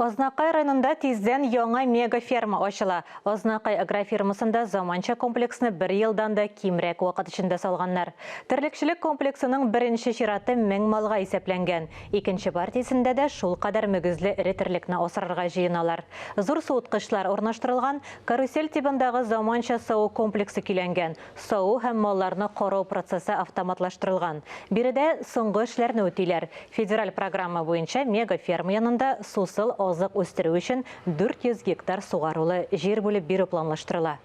Азнакай районында тиздән яңа мегаферма ачыла. Азнакай агрофирмасында заманча комплексны бер елдан да кимрәк вакыт эчендә салганнар. Терлекчелек комплексының беренче чираты мең малга исәпләнгән. Икенче партиясендә дә шулкадәр мөгезле эре терлекне асрарга җыеналар. Зур суыткычлар урнаштырылган, карусель тибындагы заманча саву комплексы көйләнгән. саву һәм малларны карау процессы автоматлаштырылган. Биредә соңгы эшләрне үтиләр. Федераль программа буенча мегаферма янында сусыл азык үстерү өчен 400 гектар сугарулы җир бүлеп бирү планлаштырыла.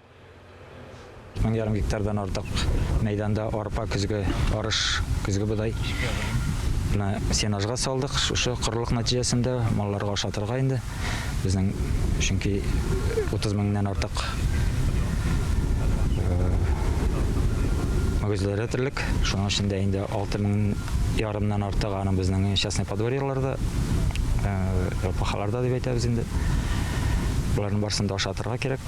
Мең ярым гектардан артык мәйданда арпа, көзге арыш, көзге бодай, сенажга салдык. Шушы корылык нәтиҗәсендә малларга ашатырга инде. Безнең чөнки 30 меңнән артык мөгезләре терлек. Шуның эчендә инде 6 мең ярымнан артык аны безнең частный подворьеларда, рапахаларда дип әйтәбез инде. Боларның барысын да ашатырга кирәк.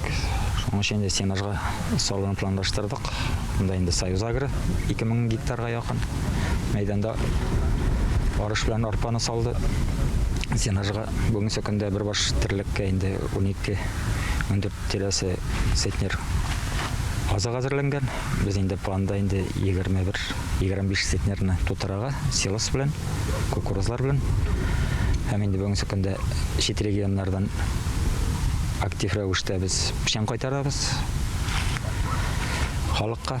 Шуның өчен инде сенажга салуны планлаштырдык. Монда инде Союз Агро 2000 гектарга якын мәйданда арыш белән арпаны салды. Сенажга Бүгенге көндә бер баш терлеккә инде 12-14 тирәсе центнер азык әзерләнгән. Без инде планда инде 21-25 центнерны тутырага силос белән, кукурузлар белән. Һәм инде бүгенге көндә чит регионнардан актив рәвештә без печән кайтарабыз халыкка.